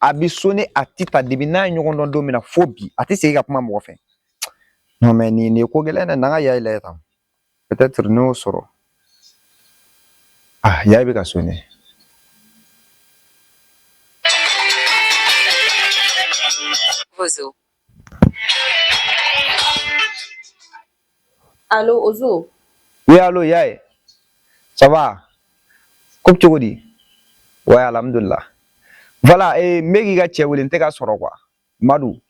a bɛ sonner a ti ta depi n'a ye ɲɔgɔn dɔn don min na fo bi a tɛ segin ka kuma mɔgɔ fɛ nɔ mɛ nin ye ko gɛlɛn dɛ n'an ka Yaye lajɛ tan peut-être n n'o sɔrɔ ah Yaye bɛ ka sonner Alo Ozo. Oui, alo Yaye. Ça va? Ko bɛ cogo di? Ouais, alhamdulillah. Voilà, eh, n bɛ k'i ka cɛ wele n tɛ ka sɔrɔ quoi. Madu.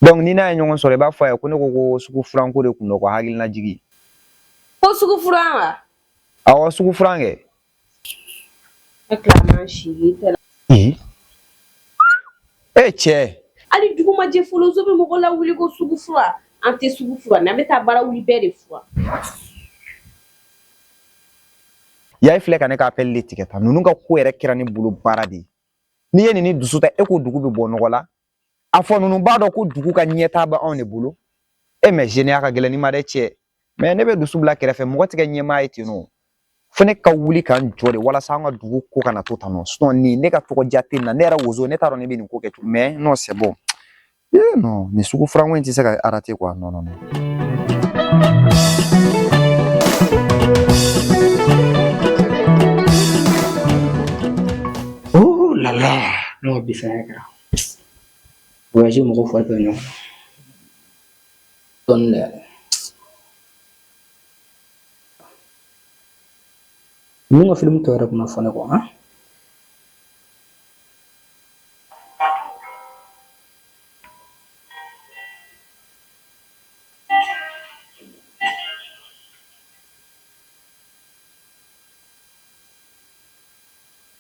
Donc n'i n'a ye ɲɔgɔn sɔrɔ i b'a fɔ a ye ko ne ko ko sugu furan ko de kun don k'o hakili lajigin. Ko sugu furan wa? Awɔ, sugu furan kɛ. E tila si ye tɛ e cɛ hali dugu ma jɛ fɔlɔ Ozo bɛ mɔgɔ lawuli ko sugu furan an tɛ sugu furan an bɛ taa Barawuli bɛɛ de furan Yaye filɛ ka ne ka appel tigɛ tan ninnu ka ko yɛrɛ kɛra ne bolo baara de ye ne ye ne dusu ta e ko dugu bɛ bɔ nɔgɔ la a fɔ ninnu b'a dɔn ko dugu ka ɲɛtaa bɛ anw de bolo e mɛ zeniya ka gɛlɛn ne ma dɛ cɛ mɛ ne bɛ dusu bila kɛrɛfɛ mɔgɔ tɛ kɛ ɲɛmaa ye ten nɔ fo ne ka wuli ka n jɔ de walasa an ka dugu ko kana to tan nɔ sinɔn ne ka tɔgɔ diya tɛ na ne yɛrɛ Ozo ne t'a dɔn ne bɛ nin ko kɛ cogo mɛ non c'est bon ee nɔ nin sugu furanko in tɛ se ka arate quoi nɔ nɔ nɔ Oh la la, n'o bisaya kɛra. Voyager mɔgɔw fari bɛ ɲɔgɔn na dɔɔnin dɛ ninnu ka filimu tɔ yɛrɛ kana fɔ ne kɔ an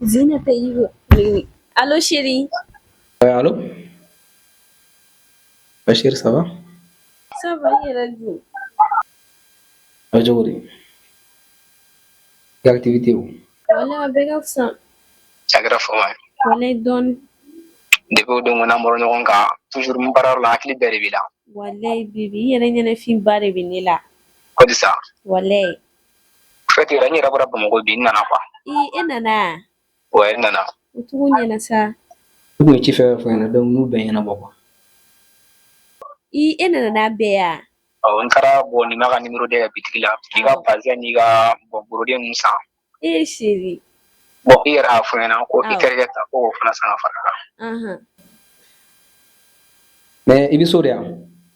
Zinata yi allo chérie. ouais allo. ah chérie ça va. ça va e yɛrɛ dun. a cogo di. activitéw. wala bɛɛ ka fisa. cɛ a kɛra fama. walayi dɔɔni. depi o don ko n'an bɔra ɲɔgɔn kan toujours n baara yɔrɔ la hakili bɛɛ de b'i la. walayi bibi i yɛrɛ ɲɛnafin ba de bɛ ne la. ko di sa. walayi. fɛti la ne yɛrɛ bɔra Bamakɔ bi n nana wa e nana n nana u tun ko n ye na sa u ye ci fɛn fɔ n ɲɛna donc n b'o ɲɛnabɔ quoi e nana i bɛ yan n taara bɔ Nimaga numéro deux ya bitigi la i ka bazin n'i ka brodé san e chérie bon i yɛrɛ y'a fɔ n ɲɛna ko i terikɛ ta ko o fana san fara a kan mɛ i bɛ so de yan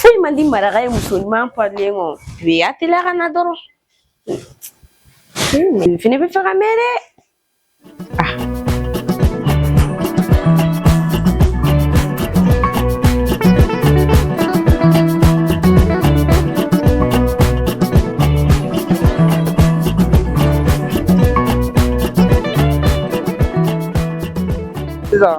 foyi man di maraka ye muso ɲuman parilen kɔ bi a teliya ka na dɔrɔn n fɛnɛ b'a fɛ k'a mɛn dɛ sisan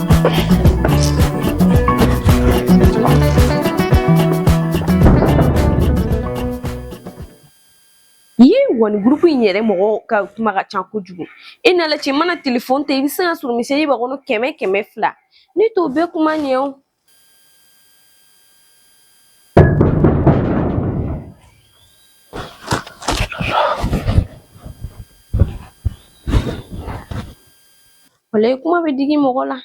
groupe in yɛrɛ mɔgɔw ka kuma ka ca kojugu e n'ala cɛ mana telefɔni ta i bɛ se k'a sɔrɔ message b'a kɔnɔ kɛmɛ kɛmɛ fila ne t'o bɛɛ kuma ɲɛ o walayi i kuma bɛ digi mɔgɔ la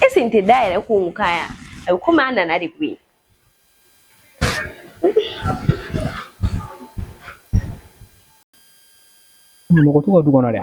e sen tɛ da yɛrɛ ko n ka yan a bɛ komi a nana de koyi mɔgɔ t'u ka du kɔnɔ dɛ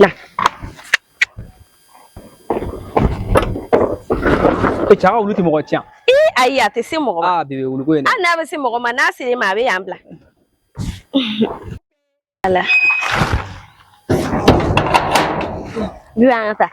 না e cɛ ka wulu tɛ mɔgɔ cin ee ayi a tɛ se mɔgɔ ma aa bebe wuluko ye hali n'a bɛ se mɔgɔ ma n'a sera i ma a bɛ yan bila ala bi an ka taa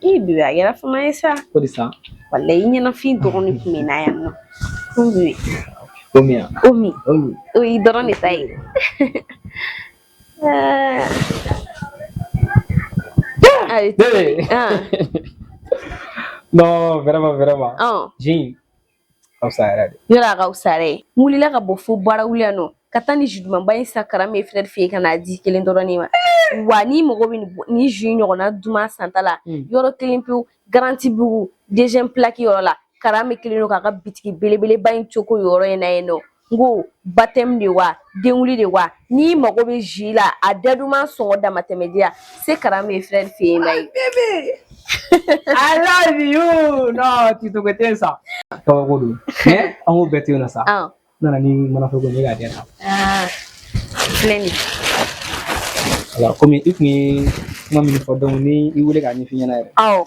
bebe a kɛra fama ye sa ko di sa walayi i ɲɛnafin dɔrɔn de kun bɛ n na yan nɔ ko bi o min yan o min o min o y'i dɔrɔn de ta ye ayi Bebe. ah non vraiment vraiment oh jin ka fisa yɛrɛ de yɔrɔ a ka fisa yɛrɛ n wulila ka bɔ fo Barawuli yan nɔ ka taa nin jus dumanba in san Karamɛ frère fɛ yen ka n'a di kelen dɔrɔn de ma wa ni mɔgɔ bɛ nin jus ɲɔgɔnna duman santa la yɔrɔ kelen pewu garantibugu deuxième plaque yɔrɔ la Karamɛ kelen don k'a ka bitigi belebeleba in cogo yɔrɔ in na yen nɔ N ko baptême de wa denwuli de wa n'i mago bɛ jus la a da duman sɔngɔ damatɛmɛdiya se Karamɛ frère fɛ yen na tɛ sa an k'o bɛɛ to yen nɔ sa nana ni mana fɛ kɔmi i tun ye kuma min fɔ donc n y'i weele k' ɲɛ ɲɛna yɛrɛ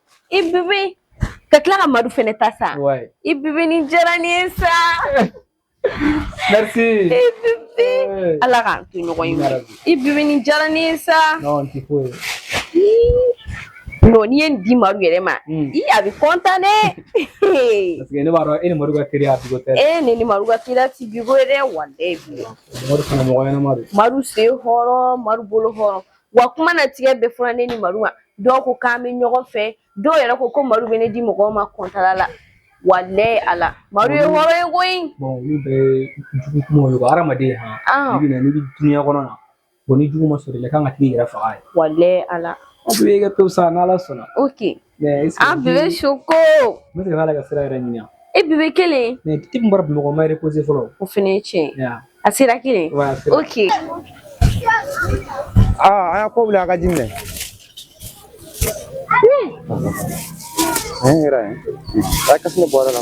i bibi ka tila ka madu fɛnɛ ta sa i bibi nin diyara ne ye sa merci i bibi ala k'an to ɲɔgɔn ye i bibi nin diyara ne ye sa non ti ko ye non n'i ye nin di madu yɛrɛ ma i a bɛ kɔntan dɛ parce que ne b'a dɔn e ni madu ka teriya bi ko tɛ e ne ni madu ka teriya ti bi ko ye dɛ walayi madu fana mɔgɔ ɲɛnama don madu sen hɔrɔn madu bolo hɔrɔn wa kuma na tigɛ bɛɛ fɔra ne ni madu ma dɔw ko k'an bɛ ɲɔgɔn fɛ dɔw yɛrɛ ko ko madu bɛ ne di mɔgɔw ma kɔntala la walayi ala madu ye hɔrɔn ye koyi olu bɛɛ ye jugu kuma ye hadamaden n'i bɛ nin dunya kɔnɔna bon ni jugu ma sɔrɔ i la i kan ka t'i yɛrɛ faga ye walayi ala a bɛ kɛ to sa n' ala sɔnna o bɛ su ko ne de b'a la ka sira yɛrɛ ɲini bebe kelen bɔra bamakɔ ma reposer fɔlɔ o fana ye tiɲɛ ye a sera kelen oke aa a ko wuli a ka di minɛ yɛrɛ a kasi bɔra la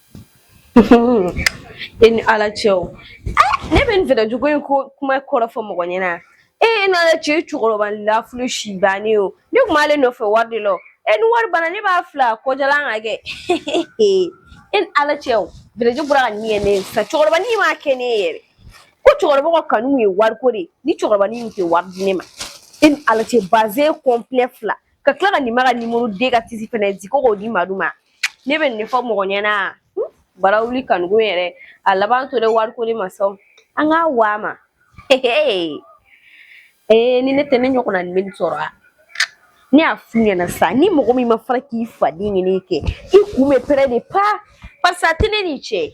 e ni ala cɛ o ne bɛ nin fɛɛrɛ jugu in ko kuma kɔrɔ fɔ mɔgɔ ɲɛna e ni ala cɛ cɛkɔrɔba lafulu si bannen o ne tun b'ale nɔfɛ wari de la e ni wari banna ne b'a fila kɔjalan ka kɛ e ni ala cɛ o fɛɛrɛ jugu bɔra ka nin kɛ ne ye sa cɛkɔrɔba ni m'a kɛ ne ye yɛrɛ ko cɛkɔrɔba ka kanu ye wariko de ye ni cɛkɔrɔba ni tɛ wari di ne ma e ni ala cɛ bazɛn kɔnpilɛ fila ka tila ka nin ma ka nimoro den ka tisi fɛnɛ di ko k'o di madu ma ne bɛ nin fɔ mɔgɔ ɲɛna bara wuli kanuko yɛrɛ a laban tora wariko de ma sɔn an k'a wa ma ee ni ne tɛ ne ɲɔgɔnna nin bɛ nin sɔrɔ ne y'a f'u ɲɛna sa ni mɔgɔ min ma fara k'i faden ɲini kɛ i kun bɛ pɛrɛn dɛ pa parisa tɛ ne ni cɛ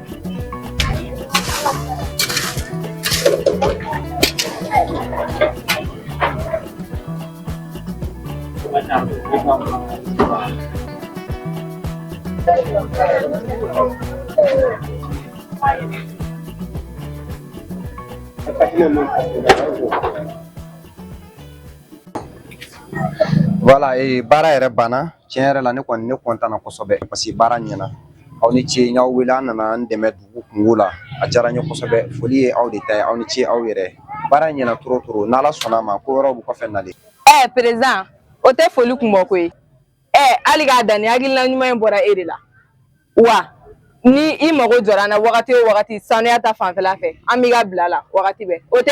Voilà ee baara yɛrɛ banna tiɲɛ yɛrɛ la ne kɔni ne kɔntanna kosɛbɛ parce que baara ɲɛna aw ni ce n y'aw wele aw nana n dɛmɛ dugu kunko la a diyara n ye kosɛbɛ foli ye aw de ta ye aw ni ce aw yɛrɛ baara ɲɛna trop trop n' ala sɔnna a ma ko wɛrɛw bɛ kɔfɛ nalen ɛɛ président o tɛ foli kun bɔ koyi ɛ hali k'a dan ni hakilina ɲuman in bɔra e de la wa ni i mago jɔra an na wagati o wagati sanuya ta fanfɛla fɛ an b'i ka bila la wagati bɛɛ o tɛ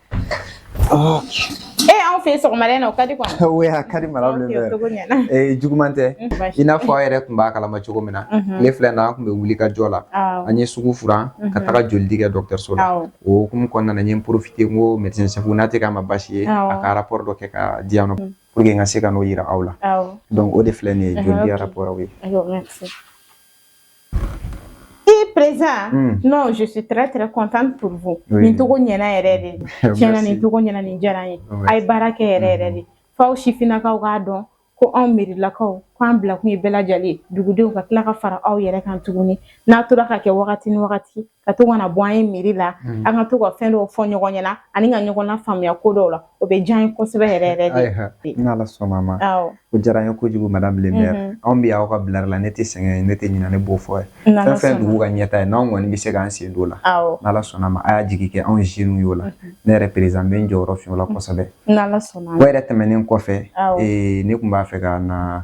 E anw fɛ sɔgɔmada in na o ka di a ka di madame le maire juguman tɛ i n'a fɔ aw yɛrɛ tun b'a kalama cogo min na tile fila in na an tun bɛ wuli ka jɔ la an ye sugu furan ka taga joli di kɛ dɔgɔtɔrɔso la o hukumu kɔnɔna na n ye n profiter n ko médecin chef n'a tɛ k'a ma baasi ye a ka rapport dɔ kɛ ka di yan pour que n ka se ka n'o yira aw la donc o de filɛ nin ye joli di rapport ye E président non je suis très très contente pour vous nin cogo ɲɛna yɛrɛ de tiɲɛ na nin cogo ɲɛna nin diyara n ye a ye baara kɛ yɛrɛ yɛrɛ de f'aw sifinnakaw k'a dɔn ko anw mɛrilakaw k'an bila kun ye bɛɛ lajɛlen dugudenw ka tila ka fara aw yɛrɛ kan tuguni n'a tora ka kɛ wagati ni wagati ka to ka na bɔ an ye mairie la mm. an ka to ka fɛn dɔw fɔ ɲɔgɔn ɲɛna ani ka ɲɔgɔn nafaamuya ko dɔw la o bɛ diya n ye kosɛbɛ yɛrɛ yɛrɛ de ni ala sɔnna ma o diyara n ye kojugu madame le maire mm-hmm. anw bɛ aw ka bilari la ne tɛ sɛgɛn ne tɛ ɲinɛ ne b'o fɔ ye fɛn o fɛn dugu ka ɲɛtaa ye n'anw kɔni bɛ se k'an sen don o la n'ala sɔnna ma a y'a jigi kɛ anw jeunes y'o la mm-hmm. ne yɛrɛ président bɛ n jɔyɔrɔ fa o la mm-hmm. kosɛbɛ n'ala sɔnna o yɛrɛ tɛmɛnen kɔfɛ ne tun b'a fɛ ka na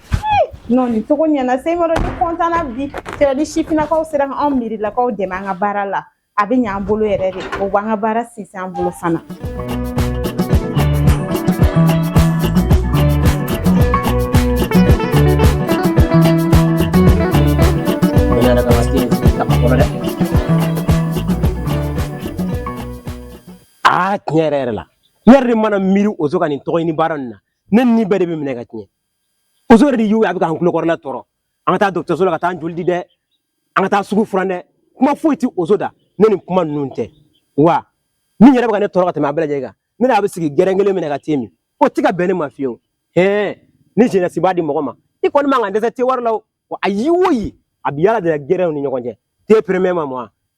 non nin cogo ɲɛna seyimaru ne kɔntanna bi sera ni sifinnakaw sera ka anw mɛrilakaw dɛmɛ an ka baara la a bɛ ɲ'an bolo yɛrɛ de o b'an ka baara sinsin an bolo fana tiɲɛ yɛrɛ yɛrɛ la ne yɛrɛ de mana miiri ozo ka nin tɔgɔɲini baara nin na ne ni bɛɛ de bɛ minɛ ka tiɲɛ yɛrɛ de y'o ye a bɛ k'an kulokɔrɔla tɔɔrɔ an ka taa dɔgɔtɔrɔso la ka taa joli di dɛ an ka taa sugu furan dɛ kuma foyi tɛ ozo da ni nin kuma ninnu tɛ wa min yɛrɛ bɛ ka ne tɔɔrɔ ka tɛmɛ a bɛɛ lajɛlen kan ne n'a bɛ sigi gɛrɛn kelen min na ka te min o tɛ ka bɛn ne ma fiyewu hɛn ni jeunesse b'a di mɔgɔ ma i kɔni man kan ka dɛsɛ te wari la wa ayi o yi a bi yaala de gɛrɛnw ni ɲɔgɔn cɛ te premier ma mɔ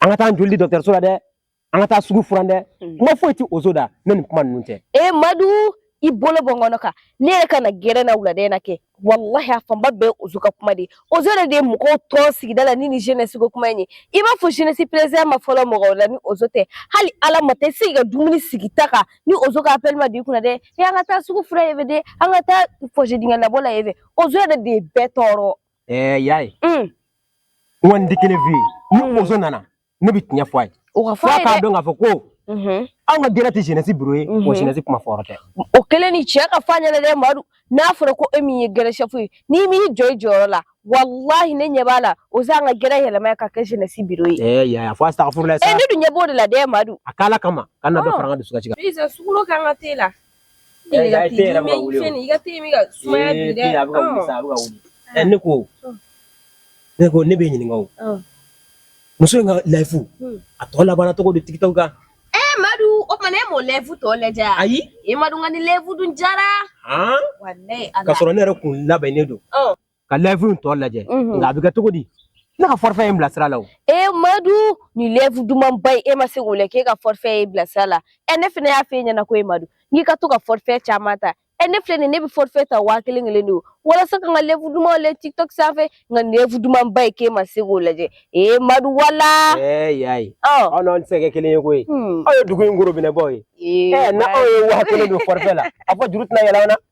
an ka taa joli di dɔgɔtɔrɔso la dɛ an ka taa sugu furan dɛ mm. kuma foyi tɛ ozo da ni nin kuma ninnu tɛ e eh, madu i bolo bɔ n kɔnɔ kan ne yɛrɛ ka na gɛrɛn na wulada in na kɛ walahi a fanba bɛɛ ozo ka kuma de ye ozo yɛrɛ de ye mɔgɔw tɔɔrɔ sigida la ni ni jeunesse ko kuma in ye i b'a fɔ jeunesse président ma fɔlɔ mɔgɔw la ni ozo tɛ hali ala ma tɛ se ka dumuni sigi ta kan ni ozo ka appel ma di kunna dɛ e an ka taa sugu furan ye fɛ dɛ an ka taa fossé dingɛ labɔ la ye fɛ ozo yɛrɛ de ye bɛɛ tɔɔrɔ Ɛɛ y'a ye n bɛ kelen f'i ye ni ozo nana ne bɛ tiɲɛ fɔ a ye f'a k'a dɔn k'a fɔ ko anw ka gɛrɛn tɛ jeunesse bureau ye o jeunesse kuma fɔyɔrɔ tɛ o kelen ni cɛ ka f'a ɲɛna madu n'a fɔra ko e min ye gɛrɛn chef ye n'i m'i jɔ i jɔyɔrɔ la walahi ne ɲɛ b'a la ozo b'an ka gɛrɛn yɛlɛma ka kɛ jeunesse bureau ye y'a fɔ sa ne dun ɲɛ b'o de la dɛ madu a k' ala kama kana dɔ fara an ka dusukasi kan ne ko ne ko ne bɛ ɲininka o muso in ka live hmm. a tɔ labanna cogo di tiktok kan eh, madu o tuma ne m'o live tɔ lajɛ ayi e madu nka nin live dun diyara ka sɔrɔ ne yɛrɛ kun labɛnnen don ka live in tɔ lajɛ nka a bɛ kɛ cogo di ne ka forfait ye n bila sira la o e madu nin live dumanba ye e ma se k'o lajɛ k'e ka forfait y'i bila sira la ɛ ne fana y'a f'e ɲɛna ko e madu n'i ka to ka forfait caman ta ɛ ne filɛ nin ne bɛ forfait ta waa kelen kelen de o walasa ka n ka live dumanw lajɛ tiktok sanfɛ nka nin live dumanba ye k'e ma se k'o lajɛ e madu wala ɛɛ y'a ye an n'aw tɛ se ka kɛ kelen ye koyi aw ye dugu in gorobinɛbaw ye ɛ n'an ye waa kelen don forfait la a fɔ juru tɛna yɛlɛ an na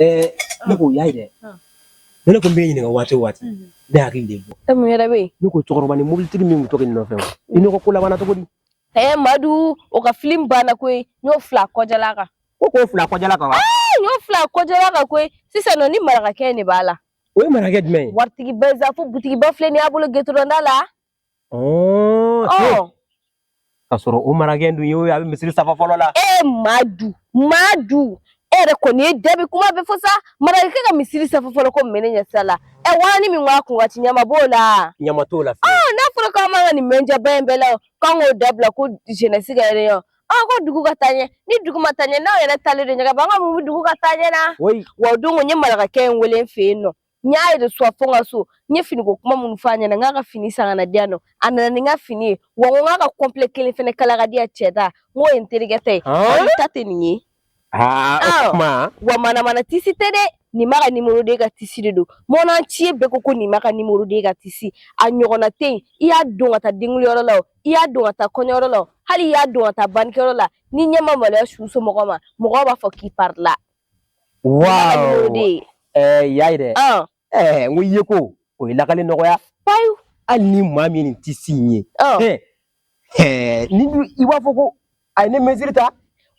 Ɛɛ ne ko y'a ye dɛ ne tun bɛ ɲininka waati o waati ne hakili de bɔ e mun yɛrɛ bɛ yen ne ko cɛkɔrɔbanin mobilitigi min tugulen i nɔfɛ i n'o ko labanna cogo di ɛɛ madu o ka film banna koyi n y'o fila kɔjala kan ko k'o fila kɔjala kan n y'o fila kɔjala kan koyi sisan nɔ ni marakakɛ de b'a la o ye marakakɛ jumɛn ye waritigiba sa fo butigiba filɛ nin y'a bolo gɛtɔrɔnda la Oh, oh. Ka sɔrɔ o marakakɛ dun ye o ye a bɛ misiri safa fɔlɔ la. E madu madu e yɛrɛ kɔni i da bi kuma bɛɛ fɔ sa marakakɛ ka misiri safa fɔlɔ ko mɛne ɲɛ sira la ɛ wari min b'a kun ka ci ɲama b'o la. ɲama t'o la. ɔɔ n'a fɔra k'an man ka nin mɛnjɛba in bɛɛ la o k'an k'o dabila ko jeunesse ka réunion ɔɔ ko dugu ka taa ɲɛ ni dugu ma taa ɲɛ n'an yɛrɛ taalen don ɲɛ kɛ an ka mun bɛ dugu ka taa ɲɛ na. wa o don ko n ye marakakɛ in wele n fɛ yen nɔ n y'a yɛrɛ suwa fo n ka so n ye finiko kuma minnu fɔ a ɲɛna n k'a ka fini san ka na di yan nɔ a nana ni n ka fini ye wa n ko n k'a ka kɔnpilɛ kelen fana kala ka di yan cɛ ta n k'o ye n terikɛ ta ye o ta tɛ nin ye wa manamana tisi tɛ dɛ nimaga numéro deux ka tisi de don mɔnɔn ci ye bɛɛ ko ko nimaga numéro deux ka tisi a ɲɔgɔnna tɛ yen i y'a don ka taa denwuliyɔrɔ la o i y'a don ka taa kɔɲɔyɔrɔ la o hali i y'a don ka taa bannikɛyɔrɔ la n'i ɲɛ ma maloya su somɔgɔw ma mɔgɔw b'a fɔ k'i parila waaw ɛɛ y'a ye dɛ ɛɛ n ko i ye ko ye lakali nɔgɔya payi hali ni maa min nin tisi ye ɛɛ ni i b'a fɔ ko a ye ne mesure ta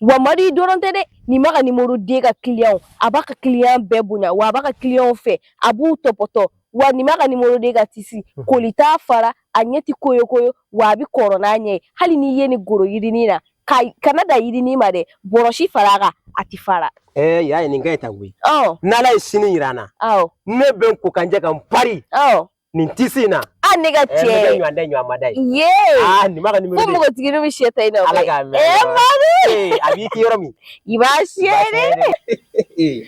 wa madu i dɔrɔn tɛ dɛ nimaga numéro deux ka kiliyanw a b'a ka kiliyan bɛɛ bonya wa a b'a ka kiliyanw fɛ a b'u tɔpɔtɔ wa nimaga numéro deux ka tisi koli t'a fara a ɲɛ tɛ koyo koyo wa a bɛ kɔrɔ n'a ɲɛ ye hali n'i ye nin goro yirinin na ka n'a da yirinin ma dɛ bɔrɔsi fara a kan a tɛ fara. ɛɛ y'a ye nin ka ɲi ta koyi. ɔ n'ala ye sini yira an na. awɔ ne bɛ n ko ka n jɛ ka n pari. ɔ nin tisi in na. a ne ka cɛ. ɛɛ ne ka ɲɔgɔn da ɲɔgɔn ma da ye. yee aa nimaga numéro deux. ko npogotigi bɛ sɛ ta i nɔfɛ. ala k'a mɛn. ee madu. a b'i kin yɔrɔ min. i b'a siyɛn de.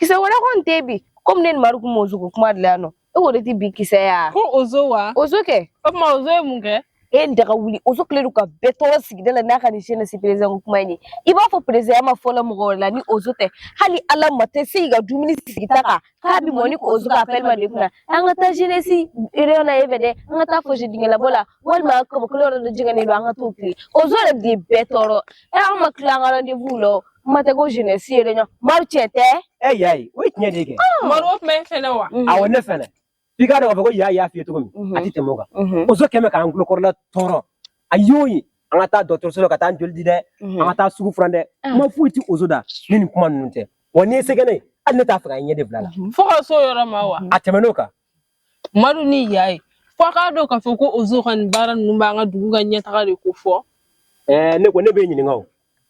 kisɛ wɛrɛ kɔni tɛ bi komi ne ni madu kun b'ozo ko kuma de la yan nɔ e ko de ti bi kisɛ ya ko ozo wa ozo kɛ o tuma ozo ye mun kɛ e daga wuli ozo kɛlen don ka bɛɛ tɔɔrɔ sigida la n'a ka nin jeunesse président ko kuma in ye i b'a fɔ président ya ma fɔlɔ mɔgɔ wɛrɛ la ni ozo tɛ hali ala ma tɛ se k'i ka dumuni sigi ta kan k'a bi mɔ ni ozo ka appel ma d'i kunna an ka taa jeunesse réunion na e fɛ dɛ an ka taa fose dingɛ labɔ la walima kabakolo yɔrɔ dɔ jɛngɛnen don an ka t'o tilen ozo yɛrɛ de ye bɛɛ tɔɔrɔ e an ma tila an ka rendez-vous la o kuma tɛ ko jeunesse réunion Madu tiɲɛ tɛ e y'a ye o ye tiɲɛ de ye kɛ Madu o tuma e fɛnɛ wa awɔ ne fɛnɛ f'i k'a dɔn k'a fɔ ko y'a y'a f'i ye cogo min a ti tɛmɛ o kan ozo kɛlen bɛ k'an kulokɔrɔla tɔɔrɔ a y'o ye an ka taa dɔgɔtɔrɔso la ka taa joli di dɛ an ka taa sugu furan dɛ kuma foyi ti ozo da ni nin kuma ninnu tɛ wa n'i ye sɛgɛnɛ ye hali ne t'a fɛ ka ɲɛ de bila la fo ka so yɔrɔ ma wa a tɛmɛn'o kan madu ni y'a ye fo a k'a dɔn k'a fɔ ko ozo ka nin baara ninnu b'an ka dugu ka ɲɛtaga de kofɔ ne ko ne b'i ɲininka o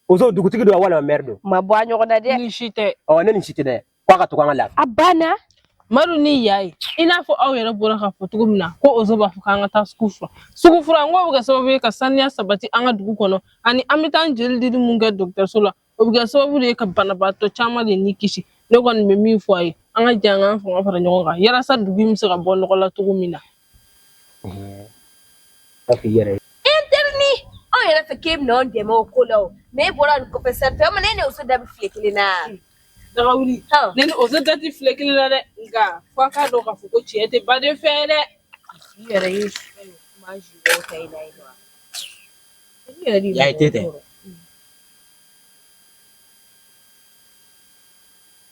Ozo dugutigi don walima maire don ma bɔ ɲɔgɔn na dɛ ni si tɛ ne ni si tɛ dɛ k'a ka to an ka lafiya a banna madu ni y'a ye i n'a fɔ aw yɛrɛ bɔra k'a fɔ cogo min na ko ozo b'a fɔ k'an ka taa sugu furan sugu furan bɛ kɛ sababu ye ka saniya sabati an ka dugu kɔnɔ ani an bɛ taa joli dili min kɛ dɔgɔtɔrɔso la o bɛ kɛ sababu ye ka banabaatɔ caman de ni kisi ne kɔni bɛ min fɔ a ye an ka jɛ an k'an fanga fara ɲɔgɔn kan walasa dugu bɛ se ka bɔ nɔgɔ la cogo min na Papi yɛrɛ ye e teri ni aw yɛrɛ fɛ k'e bɛ anw dɛmɛ o ko la ne bɔra nin kɔfɛ sa tɛ ne o da fi kelen na ne o dati fi kelen la dɛ nka ko k'a dɔn ka fɔ ko cɛ tɛ baden fɛ dɛ yɛrɛ ye tɛ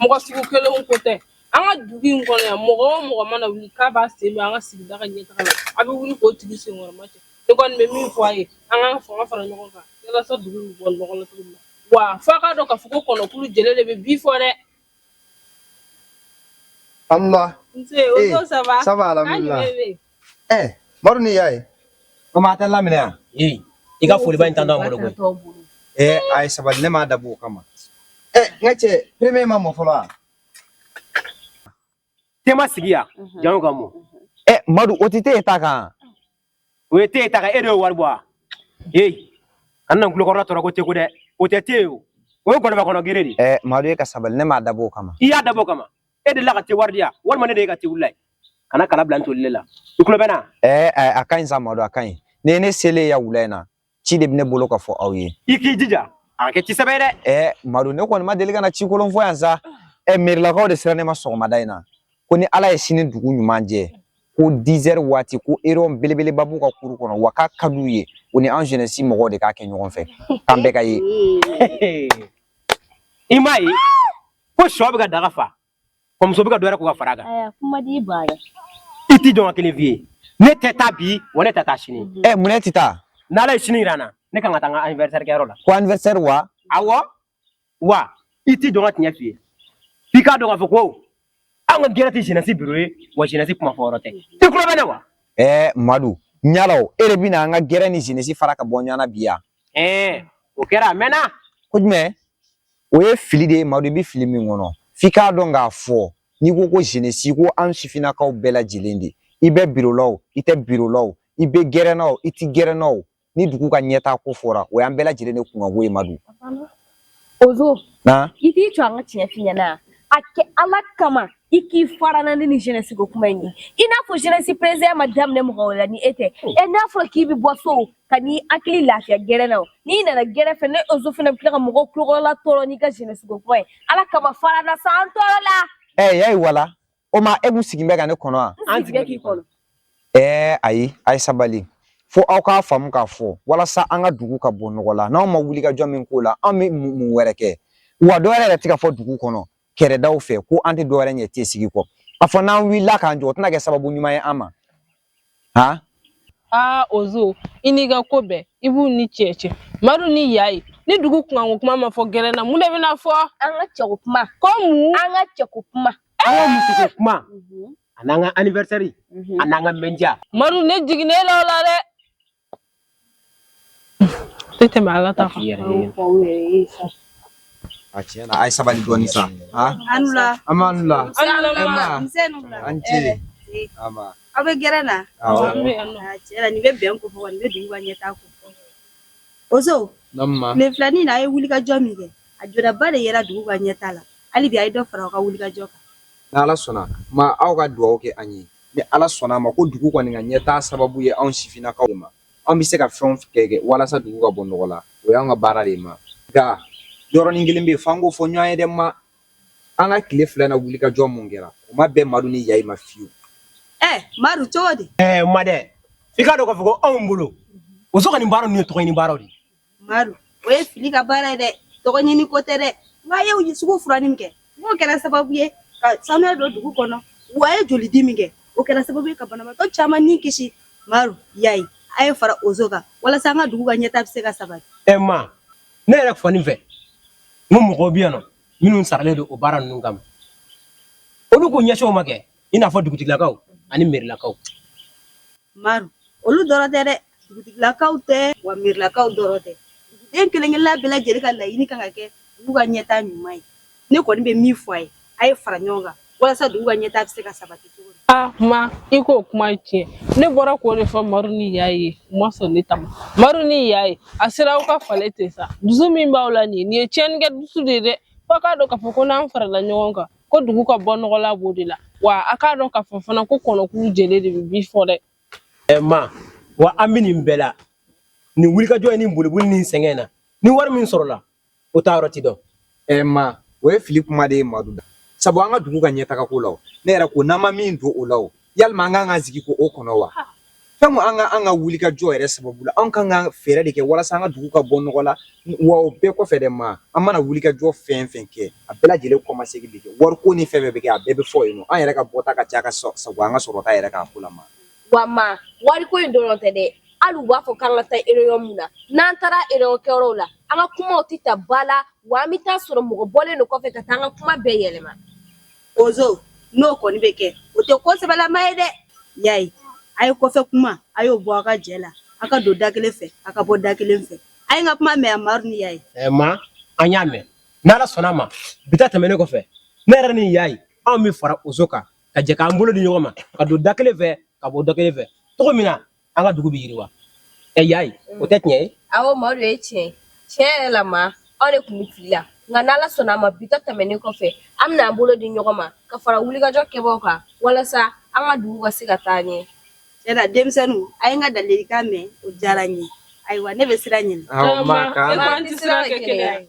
mɔgɔ sugu kelenw ko tɛ an ka dugu in kɔnɔ yan mɔgɔ o mɔgɔ mana wuli k'a b'a sen don an ka sigida ka ɲɛtaga la a bɛ wuli k'o tigi senkɔrɔmacɛ ne kɔni bɛ min fɔ a ye an k'an fanga fara ɲɔgɔn kan walasa dugu in bɛ bɔ nɔgɔ la cogo min na wa f'a k'a dɔn k'a fɔ ko kɔnɔkulu jɛlen de bɛ bi fɔ dɛ Allah. Nse, o ee, eh, ça va. Ça va, alhamdulillah. Eh, madu ni y'a ye komi a tɛ laminɛ yan ee i ka foliba in tantɔ an bolo koyi ee a ye sabali ne m'a dabɔ o kama ee nka te premier ma mɔ fɔlɔ wa te ma sigi yan jango ka mɔ ee madu o tɛ te ta kan o ye te ta kan e de ye wari bɔ wa ee kana an kulokɔrɔla tɔɔrɔ ko te ko dɛ o tɛ te ye o o ye gɔlɔbɛ kɔnɔ gere de ee madu e ka sabali ne m'a dabɔ o kama i y'a dabɔ o kama e delila ka te wari di yan walima e delila ka te wuli yan kana kala bila n toli ne la i tulo bɛ n na ɛɛ ɛɛ a ka ɲi sa madu a ka ɲi ne ye ne selen yan wula in na ci de bɛ ne bolo ka fɔ aw ye i k'i jija a kɛ ci sɛbɛ ye dɛ ɛɛ madu ne kɔni ma deli ka na ci kolon fɔ yan sa ɛ mɛrilakaw de sera ne ma sɔgɔmada in na ko ni ala ye sini dugu ɲuman jɛ ko 10 heures waati ko réunion belebeleba b'u ka kuru kɔnɔ wa k'a ka d'u ye u ni an jeunesse mɔgɔw de k'a kɛ ɲɔgɔn fɛ k'an bɛɛ ka ye i m'a ye ko shɔ bɛ ka daga fa ko muso bɛ ka dɔ wɛrɛ ko ka fara kan i t'i jɔ n ka kelen f'i ye ne tɛ taa bi wa ne tɛ taa sini mhm. ɛ mun ne tɛ taa n'ala ye sini jira n na ne kan ka taa n ka anniversaire kɛyɔrɔ la ko anniversaire wa awɔ wa i t'i jɔ n ka tiɲɛ f'i ye f'i k'a dɔn k'a fɔ ko an ka gɛrɛ tɛ jeunesse biro ye wa jeunesse kuma fɔ yɔrɔ tɛ i tulo bɛ ne wa ɛɛ madu yala e de bɛna an ka gɛrɛ ni jeunesse fara ka bɔ ɲɔgɔn na bi yan o kɛra a mɛnna ko jumɛn o ye fili de ye madu i bɛ fili min kɔnɔ f'i k'a dɔn k'a fɔ n'i ko ko jeunesse ko an sifinnakaw bɛɛ lajɛlen de i bɛ biro la o i tɛ biro la o i bɛ gɛrɛn na o i tɛ gɛrɛn na o ni dugu ka ɲɛtaa ko fɔra o y'an bɛɛ lajɛlen de kunkanko ye madu Ozo i t'i jɔ an ka tiɲɛ f'i ɲɛna a kɛ ala kama i k'i fara an na ni nin jeunesse ko kuma in ye i n'a fɔ jeunesse président ma daminɛ mɔgɔ wɛrɛ la ni e tɛ e n'a fɔra k'i bɛ bɔ so ka n'i hakili lafiya gɛrɛ na n'i nana gɛrɛ fɛ ne ozo fana bɛ tila ka mɔgɔ tulokɔrɔla tɔɔrɔ n'i ka jeunesse ko kuma ye ala kama fara an na sa an tɔɔrɔla ɛ yayi wala o ma e kun sigin bɛ ka ne kɔnɔ wa an sigin k'i kɔnɔ ɛɛ ayi a ye sabali fo aw k'a faamu k'a fɔ walasa an ka dugu ka bɔ nɔgɔ la n'anw ma wulikajɔ min k'o la an bɛ mun wɛrɛ kɛ wa dɔ wɛrɛ yɛrɛ tɛ ka fɔ dugu kɔnɔ kɛrɛdaw fɛ ko an tɛ dɔ wɛrɛ ɲɛ te sigi kɔ a fɔ n'an wulila k'an jɔ o tɛna kɛ sababu ɲuman ye an ma han aa ozo i n'i ka ko bɛɛ i b'u ni cɛ cɛ madu ni yayi ni dugu kunkanko kuma ma fɔ gɛrɛ na mun de bɛna fɔ an ka cɛko kuma ko mun an ka cɛko kuma an ka musoko kuma an'an ka anniversaire an'an ka mɛndiya madu ne jiginnen la o la dɛ tɛ tɛmɛ ala ta kan a tiɲɛ na a ye sabali dɔɔni sa an la an b'an la an ce aw bɛ gɛrɛ na tiɲɛ nin bɛ bɛn ko fɔ nin bɛ dugu ka ɲɛtaa ko ozo tile fila nin na a ye wulikajɔ min kɛ a jɔdaba de yera dugu ka ɲɛtaa la hali bi a ye dɔ fara aw ka wulikajɔ kan n'ala sɔnna ma aw ka dugawu kɛ an ye ni ala sɔnna a ma ko dugu kɔni ka ɲɛtaa sababu ye anw sifinnakaw ma an bɛ se ka fɛn kɛ kɛ walasa dugu ka bɔ nɔgɔ la o y'an ka baara de ma nka yɔrɔnin kelen bɛ yen f'an k'o fɔ ɲɔgɔn ye dɛ ma an ka tile fila na wulikajɔ mun kɛra o ma bɛn madu ni yayi ma fiyewu ɛɛ madu cogo di ɛɛ ma dɛ f'i k'a dɔn k'a fɔ ko anw bolo ozo ka nin baara ninnu ye tɔgɔ ɲini baaraw de Madu o ye fili ka baara ye dɛ tɔgɔ ɲini ko tɛ dɛ wa a ye sugu furanni min kɛ n'o kɛra sababu ye ka sanuya don dugu kɔnɔ wa a ye joli di min kɛ o kɛra sababu ye ka banabaatɔ caman ni kisi Madu yayi a ye fara ozo kan walasa an ka dugu ka ɲɛtaa bɛ se ka sabati ɛ ma ne yɛrɛ fɔ nin fɛ n ko mɔgɔw bɛ yan nɔ minnu saralen don o baara ninnu kama olu k'u ɲɛsin o ma kɛ i n'a fɔ dugutigilakaw ani mɛrilakaw madu olu dɔrɔn tɛ dɛ dugutigilakaw tɛ wa mɛrilakaw dɔrɔn tɛ duguden kelen kelenna bɛɛ lajɛlen ka laɲini kan ka kɛ dugu ka ɲɛtaa ɲuman ye ne kɔni bɛ min fɔ a ye a ye fara ɲɔgɔn kan walasa dugu ka ɲɛtaa bɛ se ka sabati cogo a ma i k'o kuma tiɲɛ ne bɔra k'o de fɔ madu ni yayi ye u ma sɔn ne ta ma madu ni yayi a sera aw ka falen ten sa dusu min b'aw la nin ye nin ye tiɲɛnikɛ dusu de ye dɛ f'a k'a dɔn k'a fɔ ko n'an farala ɲɔgɔn kan ko dugu ka bɔ nɔgɔ la b'o de la wa a k'a dɔn k'a fɔ fana ko kɔnɔkulu jɛlen de bɛ bii fɔ dɛ ɛ ma wa an bɛ nin bɛɛ la nin wulikajɔ ye nin boliboli ni sɛgɛn na ni wari min sɔrɔla o taayɔrɔ ti dɔn ɛ ma o ye fili kuma de ye madu da sabu an ka dugu ka ɲɛtagako la o ne yɛrɛ ko n'an ma min don o la o yala ma an kan ka sigi k'o kɔnɔ wa fɛn an ka wulikajɔ yɛrɛ sababu la an kan ka fɛɛrɛ de kɛ walasa an ka dugu ka bɔ nɔgɔ la wa o bɛɛ kɔfɛ dɛ ma an mana wulikajɔ fɛn fɛn kɛ a bɛɛ lajɛlen kɔmasegin de kɛ wariko ni fɛn fɛn bɛ kɛ a bɛɛ bɛ fɔ yen an yɛrɛ ka bɔta ka ca ka sabu an ka sɔrɔta yɛrɛ k'a ko la ma wa ma wariko in dɔrɔn tɛ dɛ hali u b'a fɔ k'an ka taa réunion min na n'an taara réunion kɛyɔrɔw la an ka kumaw tɛ ta ba la wa an bɛ taa sɔrɔ mɔgɔ bɔlen don kɔfɛ ka taa an ka kuma bɛɛ yɛlɛma ozo n'o kɔni bɛ kɛ o tɛ ko sɛbɛlama ye dɛ yayi a ye kɔfɛ kuma a y'o bɔ a ka jɛ la a ka don da kelen fɛ a ka bɔ da kelen fɛ a ye n ka kuma mɛn a madu ni yayi ma an y'a mɛn n'ala sɔnna a ma bi ta tɛmɛnen kɔfɛ ne yɛrɛ ni yayi anw bɛ fara ozo kan ka jɛ k'an bolo di ɲɔgɔn ma ka don da kelen fɛ ka bɔ da kelen fɛ cogo min na an ka dugu bɛ yiriwa ɛ yayi o tɛ tiɲɛ ye awɔ madu o ye tiɲɛ tiɲɛ yɛrɛ la ma anw de tun bɛ fili la nka n'ala sɔnna a ma bi ta tɛmɛnen kɔfɛ an bɛna an bolo di ɲɔgɔn ma ka fara wulikajɔ kɛbaaw kan walasa an ka dugu ka se ka taa ɲɛ tiɲɛ na denmisɛnninw a ye n ka ladilikan mɛn o diyara n ye ayiwa ne bɛ sira ɲini aw ma k'an tɛ sira kɛ kelen ye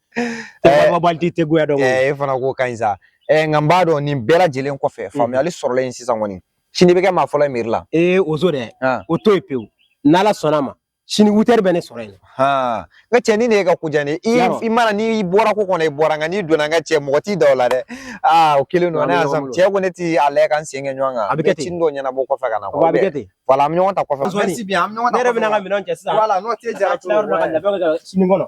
Baliti tɛ goya dɔn e fana ko ka ɲi sa nka n b'a dɔn nin bɛɛ lajɛlen kɔfɛ faamuyali sɔrɔla yen sisan kɔni sini bɛ kɛ maa fɔlɔ ye mɛri la ee ozo dɛ o to yen pewu n'ala sɔnna a ma sini huit heures bɛ ne sɔrɔ yen n cɛ ni ne ka ko diya i mana n'i bɔra ko kɔnɔ i bɔra nka n'i donna n ka cɛ mɔgɔ t'i da la dɛ aa o kelen don cɛ ko ne tɛ a la ka n sen kɛ ɲɔgɔn kan a bɛ kɛ ten dɔw ɲɛnabɔ kɔfɛ ka na a bɛ kɛ ten voilà an bɛ ɲɔgɔn ta kɔfɛ ne yɛrɛ bɛna n ka minɛnw cɛ sisan n'o tɛ jara sini kɔnɔ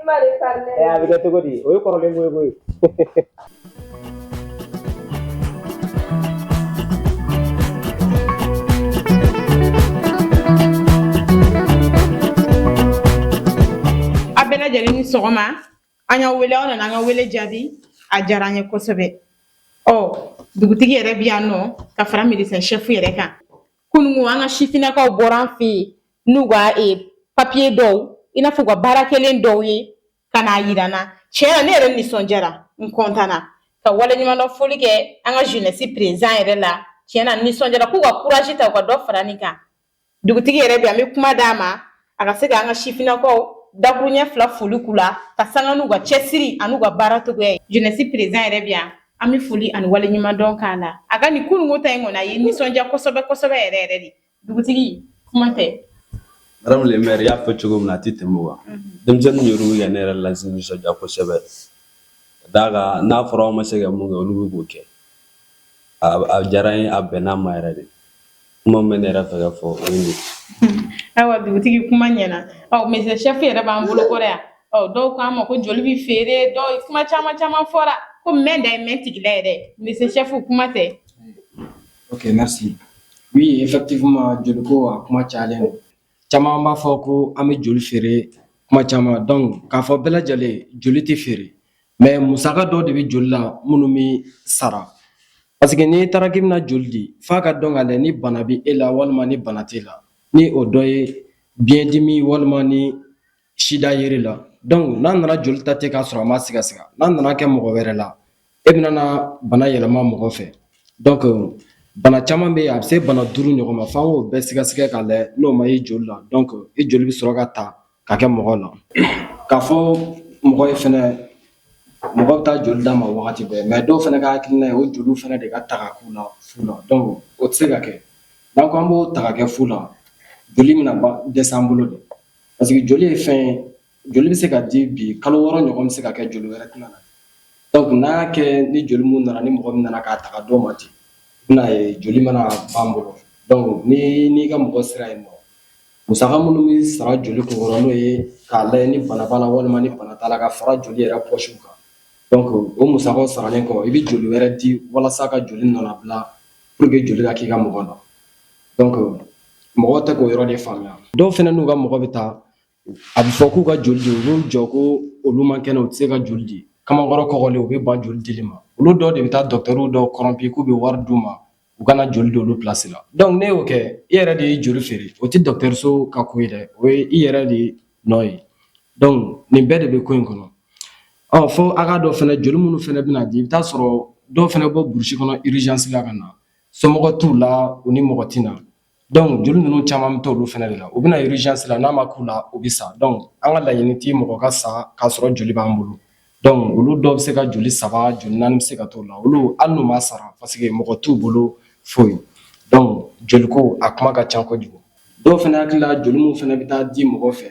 I ma de fa dɛ a bɛ kɛ cogo di o ye kɔrɔlen ko ye koyi a bɛɛ lajɛlen ni sɔgɔma an y'aw wele aw nana an ka wele jaabi a diyara an ye kosɛbɛ ɔ dugutigi yɛrɛ bɛ yan nɔ ka fara médecin chef yɛrɛ kan Kunungo an ka sifinnakaw bɔra an fɛ yen n'u ka papiye dɔw i n'a fɔ u ka baara kɛlen dɔw ye ka n'a jira n na tiɲɛ na ne yɛrɛ nisɔndiyara n kɔntanna ka waleɲumandɔn foli kɛ an ka jeunesse président yɛrɛ la tiɲɛ na nisɔndiyara k'u ka courage ta u ka dɔ fara nin kan dugutigi yɛrɛ bɛ an bɛ kuma d'a ma a ka se ka an ka sifinnakaw dakurunɲɛ fila foli k'u la ka sanga n'u ka cɛsiri an'u ka baara cogoya ye jeunesse président yɛrɛ bɛ yan an bɛ foli ani waleɲumandɔn k'a la a ka nin kunungo ta in kɔni a ye nisɔndiya kosɛbɛ kosɛbɛ yɛrɛ yɛrɛ de dugutigi kuma tɛ Madame le maire y'a fɔ cogo min na a tɛ tɛmɛ o kan mhm. denmisɛnninw yɛrɛ bɛ ka ne yɛrɛ lanisɔndiya kosɛbɛ d'a kan n'a fɔra aw ma se ka mun kɛ olu bɛ k'o kɛ a diyara n ye a bɛnna n ma yɛrɛ de kuma min bɛ ne yɛrɛ fɛ ka fɔ o ye nin ye. Ayiwa dugutigi kuma ɲɛna ɔ médecin chef yɛrɛ b'an bolo kɔrɔ yan ɔ dɔw k'an ma ko joli bɛ feere dɔw kuma caman caman fɔra ko mɛn da ye mɛn tigila yɛrɛ médecin chef kuma tɛ Ok, merci. Oui, effectivement, joli ko a kuma cayalen don. caman b'a fɔ ko an bɛ joli feere kuma caman donc k'a fɔ bɛɛ lajɛlen joli tɛ feere mais musaka dɔw de bɛ joli la minnu bɛ sara parce que n'i taara k'i bɛna joli di f'a ka dɔn k'a lajɛ ni bana bɛ e la walima ni bana t'e la ni o dɔ ye biɲɛdimi walima ni sida yer'i la donc n'a nana joli ta ten k'a sɔrɔ a ma sɛgɛsɛgɛ n'a nana kɛ mɔgɔ wɛrɛ la e bɛna bana yɛlɛma mɔgɔ fɛ donc bana caman bɛ yen a bɛ se bana duuru ɲɔgɔn ma f'an k'o bɛɛ sɛgɛsɛgɛ k'a lajɛ n'o ma ye joli la donc i joli bɛ sɔrɔ ka ta ka kɛ mɔgɔ la k'a fɔ mɔgɔ ye fɛnɛ mɔgɔ bɛ taa joli d'a ma wagati bɛɛ mais dɔw fɛnɛ ka hakilina ye o joliw fɛnɛ de ka ta ka k'u la fu la donc o tɛ se ka kɛ n'an ko an b'o ta ka kɛ fu la joli bɛna dɛsɛ an bolo de Parce que joli ye fɛn ye joli bɛ se ka di bi kalo wɔɔrɔ ɲɔgɔn bɛ se ka kɛ joli wɛrɛ tɛna na donc n'a y'a kɛ ni joli min nana ni mɔgɔ min nana k'a ta ka d'o ma ten i bɛn'a ye joli mana ban an bolo donc ni n'i ka mɔgɔ sera yen nɔ musaka minnu bɛ sara joli kunkɔrɔ n'o ye k'a lajɛ ni bana b'a la walima ni bana t'a la ka fara joli yɛrɛ poche kan donc o musakaw saralen kɔ i bɛ joli wɛrɛ di walasa ka joli nɔnabila pour que joli ka k'i ka mɔgɔ la Donc mɔgɔw tɛ k'o yɔrɔ de faamuya dɔw fɛnɛ n'u ka mɔgɔ bɛ taa a bɛ fɔ k'u ka joli di u b'u jɔ ko olu man kɛnɛ u tɛ se ka joli di kamalenkɔrɔ kɔgɔlen u bɛ ban joli dili ma olu dɔw de bɛ taa dɔgɔtɔrɔw dɔw kɔrɔnpi k'u bɛ wari d'u ma u ka na joli di olu place la donc n'e y'o kɛ i yɛrɛ de ye joli feere o tɛ dɔgɔtɔrɔso ka ko ye dɛ o ye i yɛrɛ de nɔ ye donc nin bɛɛ de bɛ ko in kɔnɔ ɔ fo a k'a dɔn fɛnɛ joli minnu fɛnɛ bɛna di i bɛ taa sɔrɔ dɔw fɛnɛ bɔ burusi kɔnɔ urgence la ka na somɔgɔ t'u la u ni mɔgɔ tɛ na donc joli ninnu caman bɛ t'olu fɛnɛ de la u bɛ na urgence la n'a ma k'u la u bɛ sa donc an ka laɲini tɛ mɔgɔ ka sa k'a sɔrɔ joli b'an bolo donc olu dɔw bɛ se ka joli saba joli naani bɛ se ka t'o la olu hali n'u ma sara parce que mɔgɔ t'u bolo foyi donc joliko a kuma ka ca kojugu dɔw fɛnɛ hakili la joli min fɛnɛ bɛ taa di mɔgɔ fɛ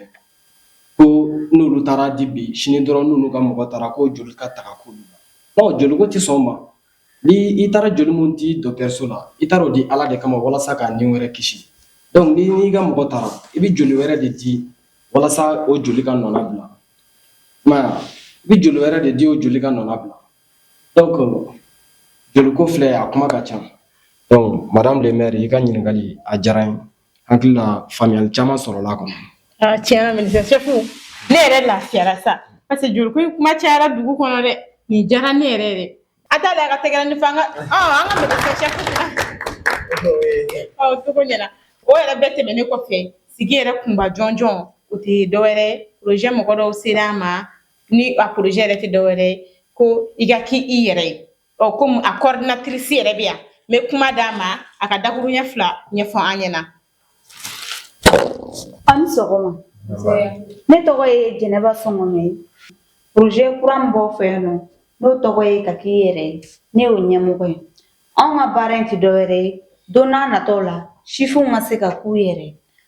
ko n'olu taara di bi sini dɔrɔn n'olu ka mɔgɔ taara ko joli ka taga k'olu la donc joliko tɛ sɔn o ma Ni i taara joli min di dɔkitɛriso la i taara o di ala de kama walasa ka nin wɛrɛ kisi donc ni n'i ka mɔgɔ taara i bɛ joli wɛrɛ de di walasa o joli ka nɔnabila i bɛ joli wɛrɛ de di o joli ka nɔnabila donc joliko filɛ a kuma ka ca donc madame le maire i ka ɲininkakali a diyara n ye Hakilila faamuyali caman sɔrɔla a kɔnɔ ne yɛrɛ lafiyara sa parce que joliko in kuma cayara dugu kɔnɔ dɛ nin diyara ne yɛrɛ ye dɛ a t'a la a ka tɛgɛrɛnin fɔ an ka cogo ɲɛna o yɛrɛ bɛɛ tɛmɛnen kɔfɛ sigi yɛrɛ kunba jɔnjɔn o tɛ dɔwɛrɛ projet mɔgɔ dɔw sera a ma ni a projet yɛrɛ tɛ dɔwɛrɛ ko i ka k' i yɛrɛ ye ɔ komi a coordinatrice yɛrɛ bɛ yan n bɛ kuma d'a ma a ka dakuruɲɛ fila ɲɛfɔ an ɲɛna aw ni sɔgɔma ne tɔgɔ ye jɛnɛba sɔngɔmɛ ye projet kura min b'aw fɛ yan nɔ n'o tɔgɔ ye ka k'i yɛrɛ ye ne y'o ɲɛmɔgɔ ye anw ka baara in tɛ dɔwɛrɛ ye don n'a nataw la sifinw ka se ka k'u yɛrɛ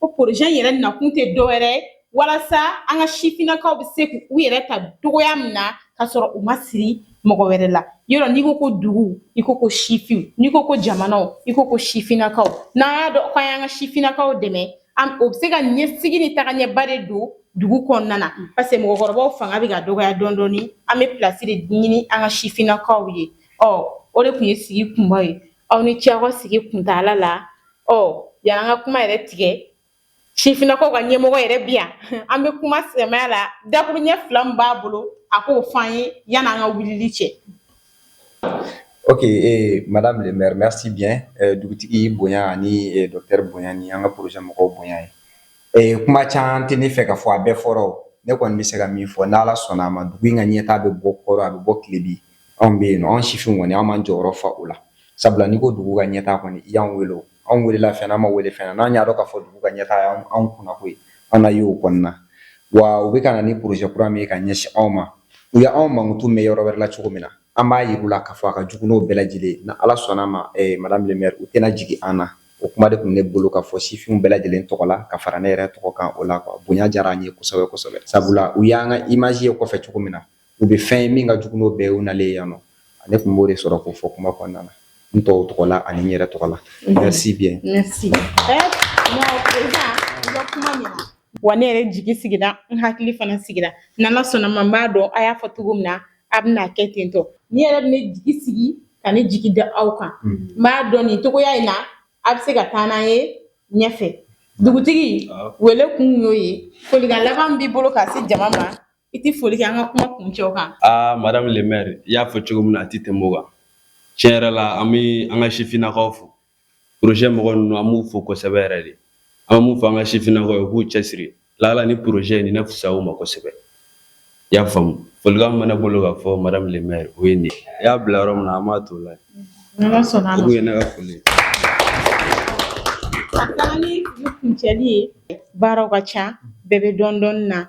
ko projet yɛrɛ nakun tɛ dɔwɛrɛ ye walasa an ka sifinnakaw bɛ se k'u yɛrɛ ta cogoya min na ka sɔrɔ u ma siri mɔgɔ wɛrɛ la yɔrɔ n'i ko ko dugu i ko ko sifinw n'i ko ko jamanaw i ko ko sifinnakaw n'an y'a dɔn k'an y'an ka sifinnakaw dɛmɛ o bɛ se ka ɲɛsigi ni tagaɲɛba de don dugu kɔnɔna na parce que mɔgɔkɔrɔbaw fanga bɛ ka dɔgɔya dɔɔni dɔɔni an bɛ place de ɲini an ka sifinnakaw ye ɔ o de tun ye sigi kunba ye aw ni ce aw ka sigi kuntaala la ɔ yanni an ka kuma yɛrɛ tigɛ sifinnakaw ka ɲɛmɔgɔ yɛrɛ bi yan an bɛ kuma sɛmɛ a la dakuruɲɛ fila min b'a bolo a k'o fɔ an ye yanni an ka wulili cɛ Ok ee madame le maire merci bien dugutigi bonya ani docteur bonya ni an ka projet mɔgɔw bonya ye ee kuma caman tɛ ne fɛ ka fɔ a bɛɛ fɔra ne kɔni bɛ se ka min fɔ n' ala sɔnna a ma dugu in ka ɲɛtaa a bɛ bɔ kɔrɔn a bɛ bɔ tilebi Anw bɛ yen nɔ anw sifinw kɔni an m'an jɔyɔrɔ fa o la sabula n'i ko dugu ka ɲɛtaa kɔni i y'an wele anw welela fɛn an ma wele fɛn n'an y'a dɔn k'a fɔ dugu ka ɲɛtaa y' anw kunnako ye an na ye o kɔnɔna wa u bɛ ka na ni projet kura min ye ka ɲɛsin anw ma u y' anw mankutu mɛn yɔrɔ wɛrɛ la cogo min na an b'a jira u la k'a fɔ a ka jugu n'o bɛɛ lajɛlen ni ala sɔnna a ma madame le maire u tɛna jigin an na o kuma de tun ne bolo ka fɔ sifinw bɛɛ lajɛlen tɔgɔ la ka fara ne yɛrɛ tɔgɔ kan o la bonya diyara an ye kosɛbɛ sabula u y'an ka image ye kɔfɛ cogo min na u bɛ fɛn ye min ka jugu n'o bɛɛ ye u nalen yan nɔ ne tun b'o de sɔrɔ k'o fɔ kuma kɔnɔna na n tɔw tɔgɔ la ani n yɛrɛ tɔgɔ la merci bien merci wa ne yɛrɛ jigi sigira n hakili fana sigira n'ala sɔnna ma n b'a dɔn a y'a fɔ cogo min na a bɛna kɛ ten tɔ ne yɛrɛ bɛ ne jigi sigi ka ne jigi da aw kan n b'a dɔn nin cogoya in na a bɛ se ka taa n'an ye ɲɛfɛ dugutigi wele kun y'o ye folikan laban b'i bolo ka se jama ma I tɛ foli kɛ an ka kuma kuncɛ o kan madame le maire i y'a fɔ cogo min na a tɛ tɛmɛ o kan tiɲɛ yɛrɛ la an bɛ an ka sifininakaw fo projet mɔgɔ ninnu an b'u fo kosɛbɛ yɛrɛ de an b'o fɔ an ka sifininakaw ye u k'u cɛsiri lala ni projet nin na fisaya u ma kosɛbɛ i y'a faamumu foli min bɛ n bolo ka fɔ madame le maire o ye nin ye i y'a bila yɔrɔ min an b'a to la o ye ne ka foli kuncɛli ye baaraw ka ca bɛɛ bɛ dɔndɔ na